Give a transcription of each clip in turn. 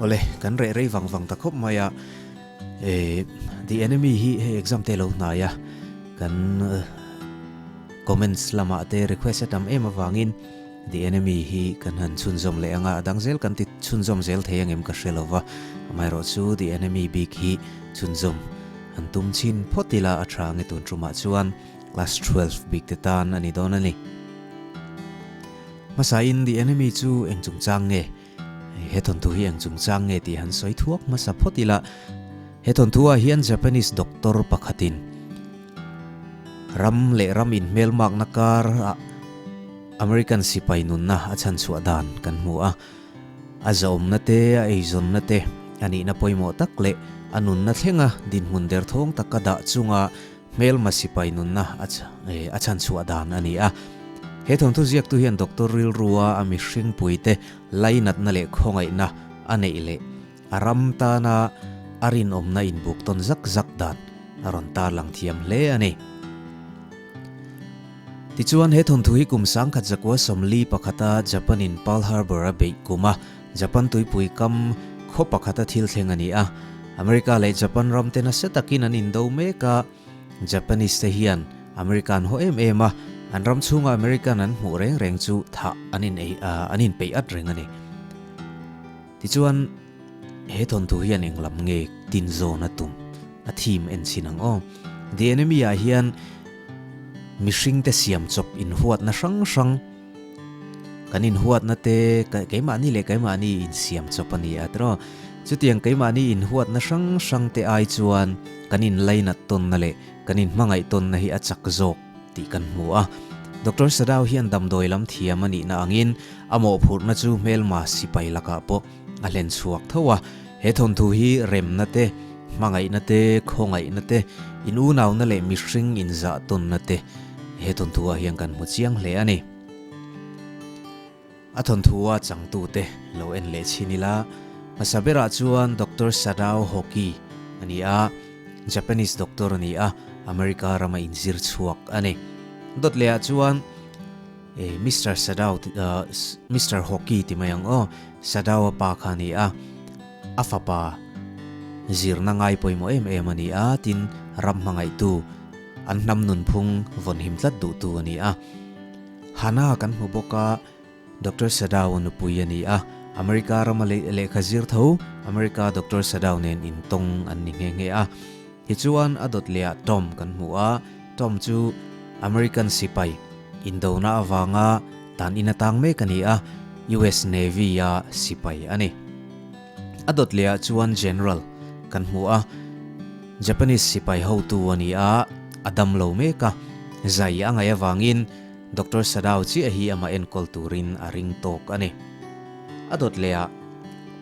Awle kan reh rei vang vang ta khawp mai a, eh the enemy hi hei exam te lo hnai a kan comments lama te request a tam em avangin the enemy hi kan han chhunzawm leh anga adang zel kan ti chhunzawm zel thei angem ka hre lova amaherawh chu the enemy bik hi chhunzawm han tum chin phawt ila a tha nge tun tumah chuan class 12 bik te tan ani dawn ani Hmasa in the enemy chu eng chungchang nge? He thawnthu hi eng chungchang nge tih han sawi thuak hmasa phawt ila, he thawnthu ah hian Japanese doctor pakhat in ram leh ram in hmel mak na kar ah American sipai nun na a chhan chhuah dan kan hmu a, a zahawm na te a ei zawn na te a nih na pawimawh tak leh a nun na thlenga dinhmun derthawng tak a dah chung a, Hmelma sipai nunna a chhanchhuah dan a ni a. He thawnthu ziaktu hian doctor rilrua a mihringpuite lainatna leh khawngaihna a neih leh a ram tana a rinawmna inbuk tawn zak zak dan a rawn tarlang thiam hle a ni. Tichuan, he thawnthu hi kum sangkhat zakua sawmli pakhata Japan-in Pearl Harbor a beih kum a Japan tuipui kam khaw pakhata thil thleng a ni a, America leh Japan ramte nasa takin an indo mek a, Japanese te hian America an haw em em a, an ram chhunga American an hmuh reng reng chu thah an in ei a, an in peih at reng a ni. Tichuan he thawnthu hian eng lam nge tin zawn a tum a thim en chin ang aw. The Enemy-ah hian mihringte siam chawp inhuatna hrang hrang, kan in huat na te keimahni leh keimahni in siam chawp a ni a ti rawh chutiang keimahni in huat na hrang hrang te ai chuan kan in lainat tawn na leh kan in hmangaih tawn na hi a chak zawk tih kan hmu a doctor sadau hian damdawi lam thiam a nihna angin a mawhphurhna chu hmelma sipai lakah pawh a hlen chhuak tho a, he thawnthu hi remna te, hmangaihna te, khawngaihna te, in unauna leh mihring in zahtawnna te he thawnthu ah hian kan hmu chiang hle a ni. A thawnthu a changtu te lo en leh chin ila, hmasa berah chuan Doctor Sadao Hoki a ni a, Japanese doctor a ni a, America ram a inzir chhuak a ni. Dawt leh ah chuan. Ei, Mister Sadao ti, uh, Mister Hockey ti mai ang aw, Sadao-a pa kha a ni a, a fapa zirna ngai pawimawh em em a ni a, tin ram hmangaihtu, an hnam nunphung vawnhim tlat duhtu a ni a. Hana kan hmu bawk a, Doctor Sadao-a nupui a ni a, America rama leh, lehkha zir tho America Doctor Sadao nen intawng an ni nghe nghe a. Tichuan a dawt leh ah Tom kan hmu a, Tom chu American sipai indona avanga dan inatang mek a ni a, US Navy-a sipai a ni. A dawt lehah chuan General kan hmu a, Japanese sipai hotu a ni a, a dam lo mek a. Zai a ngaih avangin Doctor Sadao chiah hi amah enkawl turin a ring tawk a ni. A dawt lehah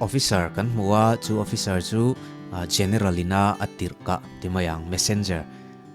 Officer kan hmu a, chu Officer chu General-ina a tirhkah ti mai ang, Messenger.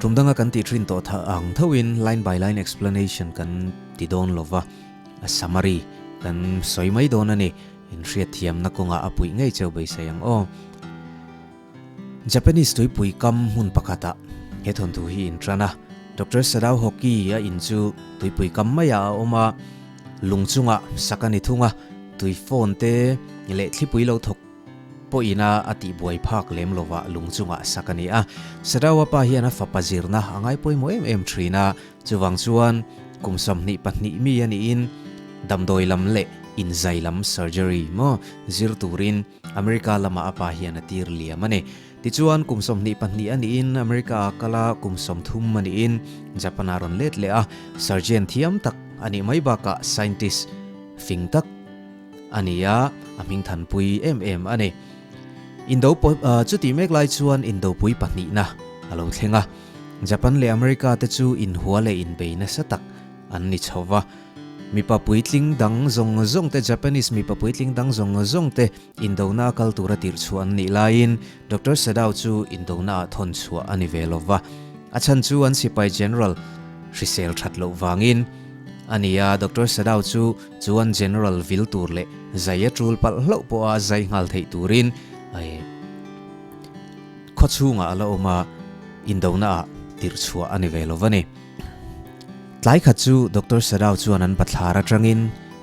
Tum danga kan tih ṭhin tawh thah ang thoin line by line explanation kan ti dawn lo va, a summary kan sawi mai dawn a ni. In hriatthiamna kawngah a puih ngei cheu beisei ang aw. Japanese tuipui kam hmun pakhatah he thawnthu hi in ṭan a. Doctor Sadao Hoki a in chu tuipui kam maiah a awm a, lung chungah sak a ni thung a, tui phone te leh thlipui lo thawk, Pawh ina a tih buai phak lem lovah lung chungah sak a ni a. Sadaua pa hian a fapa zirna a ngai pawimawh em em thin a, chuvang chuan kum sawmhnih pahnih mi a niin damdawi lam leh inzai lam, surgery, maw zir turin America lamah a pa hian a tir liam a ni. Tichuan kum sawmhnih pahnih a niin America a kal a, kum sawm thum a niin Japan a rawn let leh a. Surgeon thiam tak a nih mai bakah scientist fing tak. A ni a, a hming thanpui em em a ni. Indo chutih mek lai chuan Indopui pahnihna a lo thleng a. Japan leh America te chu inhua leh inbei nasa tak an ni chho va. Mipa puitling dang zawng zawng te, Japanese mipa puitling dang zawng zawng te Indona a kal tura tirhchhuah an nih laiin Doctor Sadao chu Indona ah thawn chhuah a ni ve lo va. A chhan chu an sipai general hrisel that loh vangin a ni a. Doctor Sadao chu. Chuan General vil tur leh zai a tul palh hlauh pawha zai nghal theih turin eh khawchhungah a la awm a, indona ah tirh chhuah a ni ve lo a ni. Tlai khat chu Doctor Sadau chuan an bathlar atangin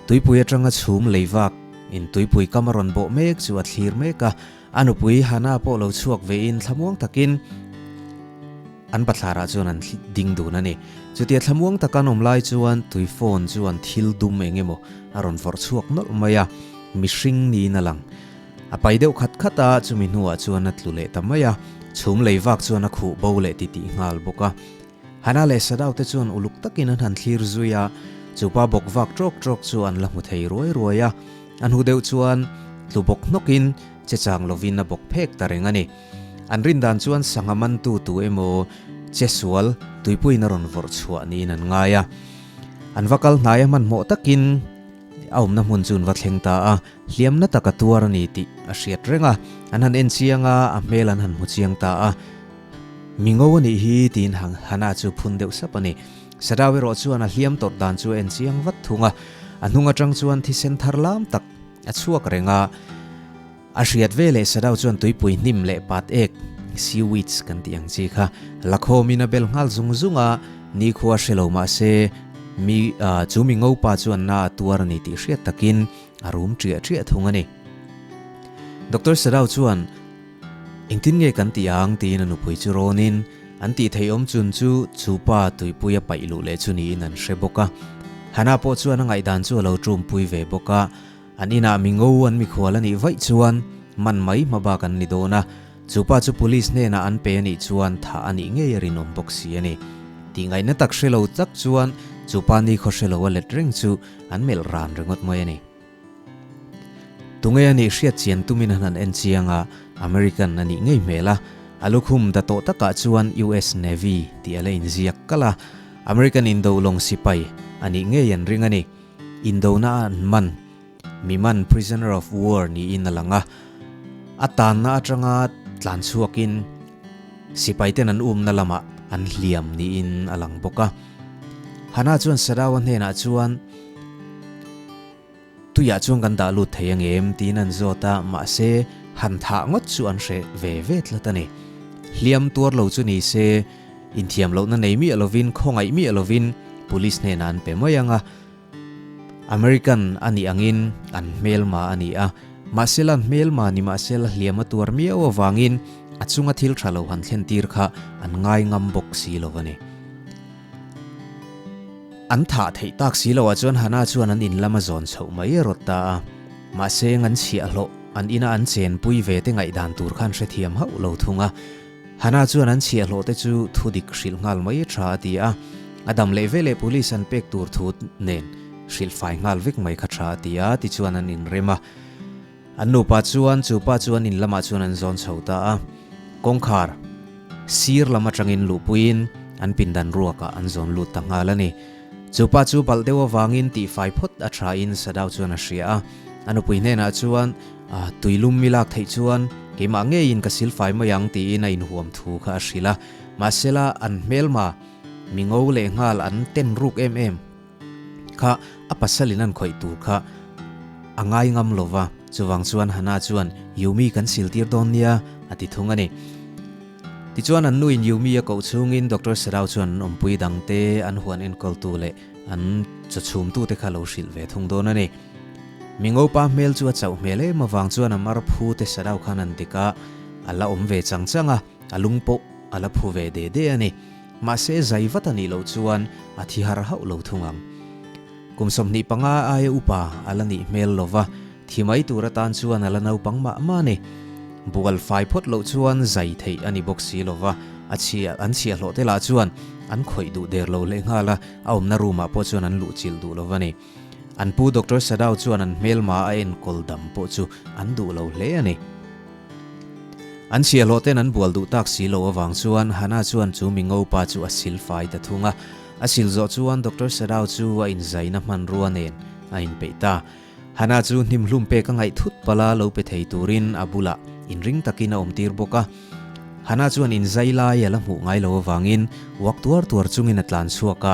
tuipui atanga chhum lei vak in tuipui kam a rawn bawh mek chu a thlir mek a. A nupui Hannah pawh lo chhuak vein thlamuang takin an Pathiarah chuan an ding dun a ni. Chutia thlamuang tak an awm lai chuan tui phone chuan thil dum eng emaw a rawn vawrh chhuak nawlh mai a, mihring niin a lang. A pai deuh khat khat a, chumi hnuah chuan a tlu leh ta mai a, chhum lei vak chuan a khuh bo leh titih nghal bawk a. Hana leh Sadau te chuan uluk takin an han thlir zui a, chupa bawk vak trawk trawk chu an la hmu thei ruai ruai a. A hnu deuh chuan tlu bawk hnawkin che chang lovin a bawk phek ta reng a ni. An rindan chuan sangha mantu tu emaw che sual tuipuina rawn vawrh chhuah niin an ngai a. An va kal hnaia hmanhmawh takin a awmna hmun chu an va thleng ta a, hliam na tak a tuar a ni tih a hriat reng a. An han enchianga a hmel an han hmu chiang ta a. Mi ngo a nih hi tiin hang Hana chu phun deuh sap a ni. Sadau erawh chuan a hliam tawrh dan chu a en chiang vat thung a, a hnung atang chuan thisen thar lam tak a chhuak reng a. A hriat ve leh Sadau chuan tuipui hnim leh pat ek, seaweeds kan tih ang chi kha, la khawm in a bel nghal zung zung a, nikhua hre lo mah se mi chu mi ngo pa chuan na a tuar a ni tih hriat takin a rum ṭiah ṭiah thung a ni. Doctor Sadau chuan. Engtin nge kan tih ang? tiin a nupui chu râwnin an tih theih awm chun chu chu pa tuipui a paih luh leh chu niin an hre bawk a. Hannah pawh chuan a ngaihdan chu a lo ṭumpui ve bawk a, an inah mi ngo an mikhual a nih vaih chuan man mai hma bak an ni dawn a, chu pa chu police hnenah an pe a nih chuan thah a nih ngei a rinawm bawk si a ni. Tihngaihna tak hre lo tak chuan chu pa nikhawhre lo a let reng chu an melh rân ringawt mai a ni. Tunge a nih hriatchian tumin a hna'n enchiang a, American a nih ngei hmel a. A lukhum da tawh takah chuan US Navy tih a la inziak kal a. American indoh lawng sipai a nih ngei an ring a ni. Indohna a an man. Mi man prisoner of war niin a lang a. A tanna atanga tlan chhuakin sipai ten an umna lamah an hliam niin a lang bawk a. Hana chuan Sadau a hnenah chuan. Tuiah chuan kan dah lut thei angem tiin an zawt a, mahse han thah ngawt chu an hreh ve ve tlat a ni. Hliam tuar lo chu nise, inthiam lohna nei miah lovin, khawngaih miah lovin Police hnenah an pe mai ang a. American a nih angin an hmelma a ni a, mahsela an hmelma ni mahse la hliam a tuar miau avangin a chunga thil tha lo han thlen tir kha an ngai ngam bawk si lo a ni. An thah theih tak si lo ah chuan Hana chuan an in lama zawn chhoh mai a rawt ta a. Mahse eng an chhiah hlawh, an ina an chen pui ve te ngaih dan tur khan hre thiam hauh lo thung a. Hana chuan an chhiah hlawh te chu thu dik hrilh nghal mai a tha a ti a. A dam leh veleh police an pek tur thu nen hrilh fai nghal vek mai kha tha a ti a tichuan an in rem a. An nupa chuan chu pa chu an in lamah chuan an zawn chho ta a, kawngkhar sir lam atangin luhpuiin an pindan ruakah an zawn lut ta nghal a ni. Chu pa chu balh deuh avangin tih fai phawt a thain Sadau chuan a hria a, a nupui hnenah chuan, A, tui lum mi lak theih chuan keimah ngeiin ka sil fai mai ang tiin a inhuam thu kha a hrilh a, mahsela an hmelma mi ngo leh nghal an ten ruk em em. kha a pasal in an khawih tur kha a ngai ngam lo va, chuvang chuan Hannah chuan Yumi kan sil tir dawn nia a ti thung a ni. Tichuan an nu in Yumi a koh chhung in Doctor Serau chuan an awmpui dang te, an huan enkawl tu leh an chaw chhum tu te kha lo hrilh ve thung dawn a ni. Mingo pa hmel chu a chauh hmel em avang chuan a mar phu te Serau khan an dik a, a la awm ve chang chang a, a lung pawh a la phu ve de de a ni. Mahse zai vat a nih loh chuan a thi har hauh lo thung ang. Kum sawmhnih panga aia upa a la nih hmel lova, thi mai tur atan chuan a la naupang mah mah ni. Bual fai phawt loh chuan zai theih a ni bawk si lova, a chhia an chhia hlawh te lah chuan an khawih duh der lo hle nghal a, a awmna room-ah pawh chuan an luhchilh duh lova ni. An pu Doctor Sadau chuan an hmelma a enkawl dam pawh chu an duh lo hle a ni. An siahlawh ten an bual duh tak si lo avang chuan Hana chuan chu Mingo pa chu a sil fai ta thung a. A sil zawh chuan Doctor Sadau chu a inzaina hmanrua nen a inpeih ta. Hana chu hnimhlum pek a ngaih thut pal a, lo pe thei turin a bulah inring takin a awm tir bawk a. Hana chuan inzai lai a la hmuh ngai lo avangin uak tuar tuar chungin a tlan chhuak a,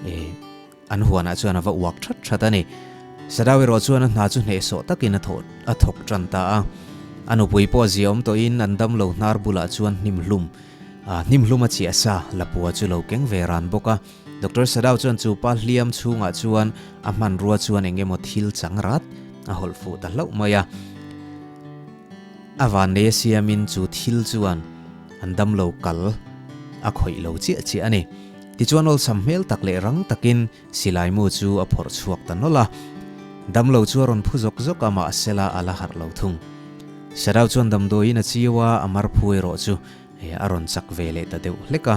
E. An huanah chuan a va uak ṭhat ṭhat a ni. Sadau erawh chuan a hna chu hnehsawh takin a thawh a thawk ṭan ta a. A nupui pawh zia awm tawhin an damlo hnar bulah chuan hnimhlum a hnimhlum a chiah sa lapua chu lo keng ve ran bawk a. Doctor Sadau chuan chu pa hliam chhungah chuan a hmanrua chuan eng emaw thil chang rat a hawlh fuh ta hlauh mai a. A van nei a siamin chu thil chuan an damlo kal a khawih lo chiah chiah a ni. Tichuan awlsam hmel tak leh rang takin Silaimu chu a phawrh chhuak ta nawlh a, Damlo chu a rawn phu zawk zawk a, mah sela a la harh lo thung. Sadau chuan damdawiin a chiu a, a marphu erawh chu a rawn chak ve leh ta deuh hlek a,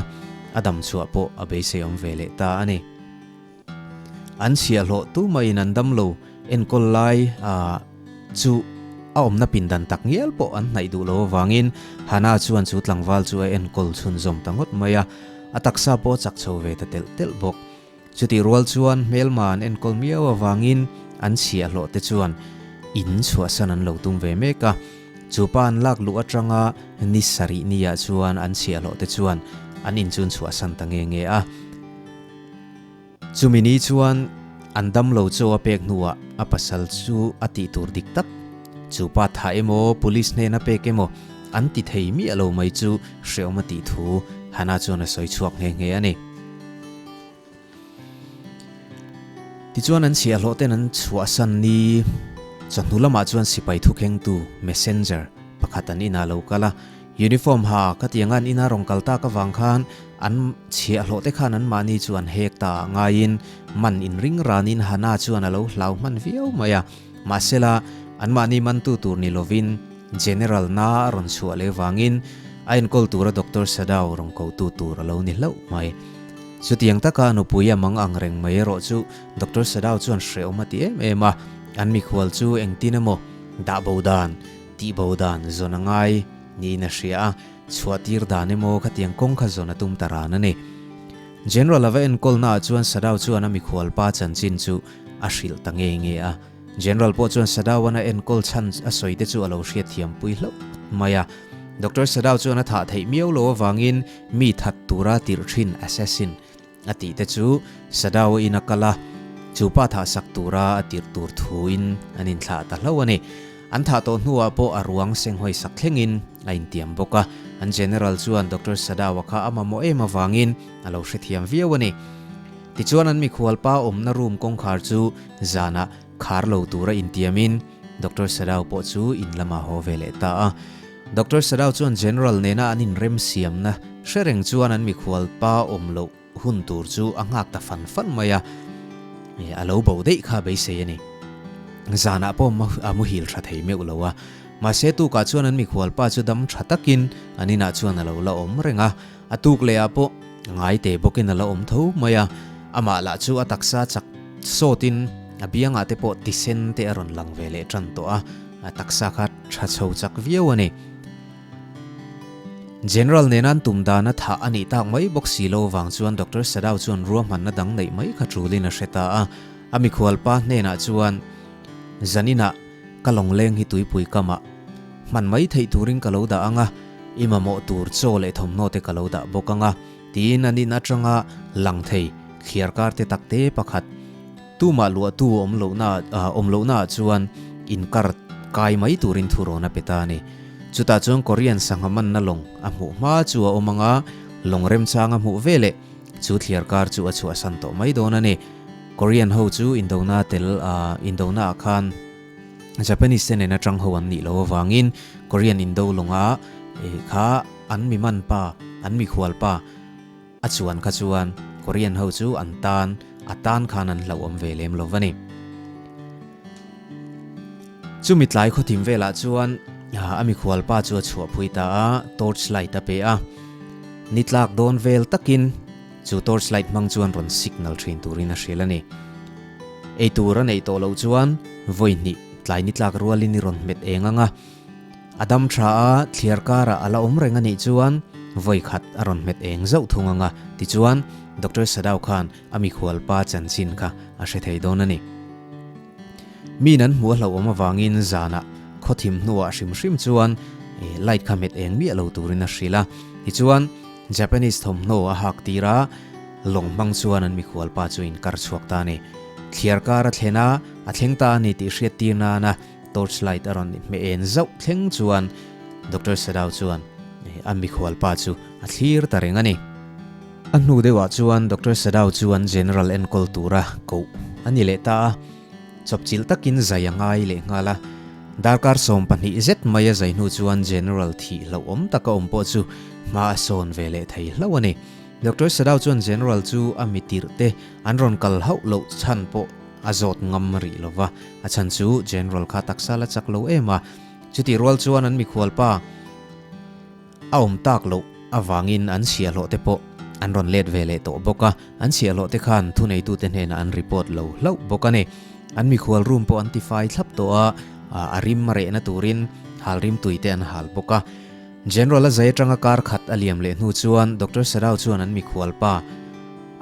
a damchhuah pawh a beiseiawm ve leh ta a ni. An chhiah hlawh tu mahin an damlo enkawl lai a, Chu a awmna pindan tak ngial pawh an hnaih duh lo avangin Hana chuan chu tlangval chu a enkawl chhunzawm ta ngawt mai a, a taksa pawh a chak chho ve ta telh telh bawk. Chutih rual chuan hmelma an enkawl miau avangin an chhia hlawh te chuan in chhuahsan an lo tum ve mek a. Chu pa an lak luh atanga ni sarih niah chuan an chhia hlawh te chuan an inchun chhuahsan ta nge nge a. Chumi ni chuan an damlo chaw a pek hnuah a pasal chu a tih tur dik tak. Chu pa tha emaw police hnen a pek emaw an ti thei miah lo mai chu hreawm a tih thu Hannah chuan a sawi chhuak nghe nghe a ni. Tichuan an chhiahhlawh ten an chhuahsan ni chawhnu lamah chuan sipai thukhengtu, messenger, pakhat an inah lo kal a. Uniform ha ka ti angan ina rawn kal tak avang khan an chhiah hlawh te khan an mahni chu an hek ta ngaiin man in ring ranin Hana chuan a lo hlau hman viau mai a, mahsela an mahni mantu tur ni lovin General na a rawn chhuah leh vangin a enkawl tura Doctor Sadao rawn kotu tur a lo ni hlauh mai. Chutiang taka a nupui a mang ang reng mai erawh chu Doctor Sadao chuan hrehawm a ti em em a, an mikhual chu engtin emaw dahbo dan Tih bo dan zawn a ngai niin a hria a, chhuah tir dan emaw khatiang kawng kha zawn a tum ta ran a ni. General a va enkawl naah chuan Sadao chuan a mikhual pa chanchin chu a hrilh ta nge nge a. General pawh chuan Sadaon a enkawl chhan a sawi te chu a lo hriatthiam pui hlauh mai a. Doctor Sadao chuan a thah theih miau lo avangin mi that tura tirh thin, assassin, A tih te chu Sadao in a kal a, chu pa thah sak tura a tirh tur thuin an inthlah ta hlo a ni. An thah tawh hnuah pawh a ruang seng hawi sak thlengin a intiam bawk a. An General chuan Doctor Sadao-a kha a mamawh em avangin a lo hrethiam viau a ni. Tichuan an mikhualpa awmna room kawngkhar chu zanah khar lo tura intiamin Doctor Sadao pawh chu in lamah haw ve leh ta a. Doctor Sadau chuan General nena an inremsiamna hre reng chuan an mikhual pa awm loh hun tur chu a nghak ta fan fan mai a, eh a lo bo daih kha beisei a ni. Zanah pawh a muhil tha thei meuh lo a, mahse tukah chuan an mikhual pa chu dam tha takin an inah chuan a lo la awm reng a. A tuk leh ah pawh a ngai teh bawk in a la awm tho mai a, amah lah chu a taksa chak sawt in a biang ah te pawh tisen te a rawn lang ve leh tan tawh a, a taksa kha tha chho chak viau a ni. General nena an tum dan a thah a nih tak mai bawk si lo vang chuan Doctor Sadau chuan ruahman na dang neih mai kha chul in a hre ta a, a mikhual pa hnen ah chuan Zanin ah ka lawngleng hi tuipui kamah hman mai theih turin ka lo dah ang a, i mamawh tur chaw leh thawmhnaw te ka lo dah bawk ang a, tiin an in atanga lang thei thliar karte takte pakhat Tumah luahtu awm lohna ah awm lohna ah chuan inkar kai mai turin thurawn a pe ta a ni. Chutah chuan Korean sangha manna lawng a hmuh hma chu a awm ang a, lawng remchang a hmuh veleh Chu thliar kar chu a chhuahsan tawh mai dawn a ni. Korean ho chu Indona tel a, Indona ah khan Japanese te nen atang ho an nih loh avangin Korean Indo lawnga kha an miman pa, an mikhual pa a chuan kha chuan Korean ho chu an tan, a tan khan an hlauhawm ve lem lo a ni. Chumi tlai khawthim velah chuan a mikhual pa chu a chhuah phui ta a, torch light a pe a. Ni tlak dawn vel takin chu torch light hmang chuan rawn signal thin turin a hrilh a ni. Ei tur a neih tawh loh chuan vawi hnih tlai ni tlak rualin i rawn hmet eng anga, a dam tha a, thliar karah a la awm reng a nih chuan vawi khat a rawn hmet eng zauh thung anga. Tichuan, Doctor Sadao khan A mikhual pa chanchin kha a hre thei dawn a ni. Min an hmuh a hloh awm avangin zanah khawthim hnuah hrim hrim chuan light kha hmet eng miah lo turin a hrilh a. Tichuan, Japanese thawmhnaw a hak tir a, lawng hmang chuan an mikhual pa chu inkar chhuak ta a ni. Thliar kar a thlen a, a thleng ta a ni tih hriat tir nana, torch light a rawn ni hme en zauh thleng chuan Doctor Sadau chuan a mikhual pa chu a thlir ta reng a ni. A hnu deuhah chuan Doctor Sadau chuan General enkawl tura koh a ni leh ta a, chawpchilh takin zai a ngai leh nghal a. Darkar sawm pahnih zet mai a zai hnu chuan General thih hlauh awm tak a awm pawh chu hma a sawn ve leh thei hlo a ni. Doctor Sadau chuan General chu a mitirhte an rawn kal hauh loh chhan pawh A zawt ngam rih lo va, a chhan chu General kha taksa la chak lo em a. Chutih rual chuan an mikhual pa a awm tak loh avangin an siahlawh te pawh an rawn let ve leh tawh bawk a. An siahlawh te khan thuneitute hnenah an report lo hlauh bawk a ni. An mikhual room pawh an tifai thlap tawh a, a rim a rehna turin halrim tuite an hal bawk a. General-a zai atanga kar khat a liam leh hnu chuan Doctor Sarau chuan an mikhual pa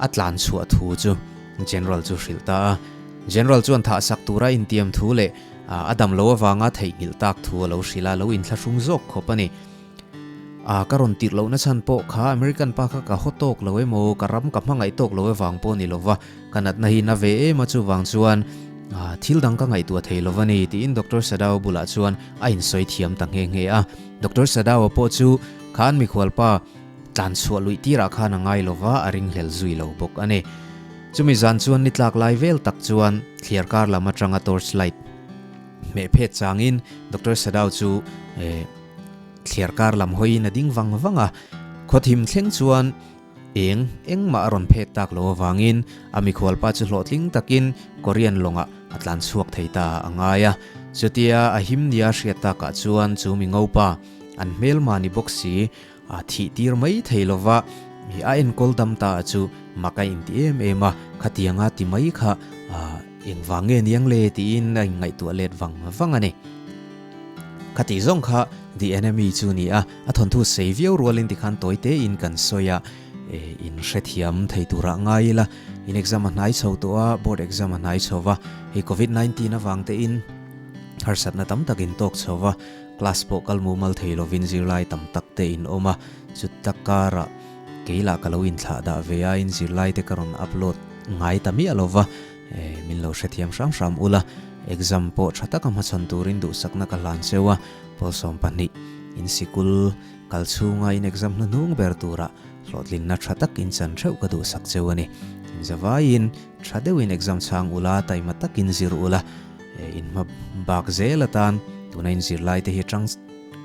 a tlan chhuah thu chu General chu hrilh ta a. General chuan thah sak tura intiam thu leh a dam lo avanga theihnghilh tak thu a lo hrilh a, a lo inthlahrung zawk khawp a ni. Ah, ka rawn tirh lohna chhan pawh kha American pa kha ka haw tawk lo emaw, ka ram ka hmangaih tawk lo avang pawh a ni lova. Ka natna hi na ve em a chuvang chuan thil dang ka ngaihtuah thei lo va ni, tiin Doctor Sadao bulah chuan a insawi thiam ta nghe nghe a. Doctor Sadao pawh chu khan mikhualpa tlan chhuah luih tirah khan a ngai lo va, a ringhlel zui lo bawk a ni. Chumi zan chuan ni tlak lai vel tak chuan thliar kar lam atanga torchlight hmeh phet changin Doctor Sadao chu thliar kar lam hawiin a ding vang vang a. Khawthim thleng chuan Eng, engmah a rawn phek tak lo avangin a mikhualpa chu hlawhtling takin Korean lawngah a tlan chhuak thei ta a ngai a. Chutia a him nia hriat takah chuan chu mi ngopa an hmelma ni bawk si, a thih tir mai thei lova a enkawl dam ta a chu mak a inti em em a, khatianga ti mai kha engvang nge niang le tiin a inngaihtuah let vang vang a ni. Khatih zawng kha the enemy chu nia. A thawnthu sei viau rual in ti khan tawi te in kan sawi a, in hrethiam thei tur ah ngai ila in exam a hnai chho tawh a, board exam a hnai chho va, hei covid nineteen avang te in harsat na tam tak in tawk chho va, class pawh kal mumal thei lo vin zirlai tam tak te in awm a, chuta kar ah kei lah ka lo in thlah dah ve a, in zirlai te ka rawn upload ngai ta miah lo va. Min lo hrethiam hram hram ula, exam pawh tha taka hmachhawn turin duhsakna ka hlan cheu a, Pawl sawm pahnih in sikul kal chhunga in exam hnu hnung ber tura hlawhtlinna tha tak in chan theuh ka duhsak cheu a ni. In zavaiin tha deuhin exam chhang ula, taima takin zir ula, in hma bak zel atan tuna in zir laite hi tang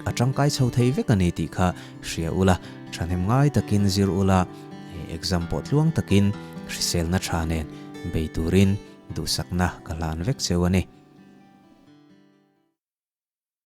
a tangkai chho thei vek a ni tih kha hria ula, thahnem ngai takin zir ula. He exam pawh tluang takin hriselna tha nen bei turin duhsakna ka hlan vek cheu a ni.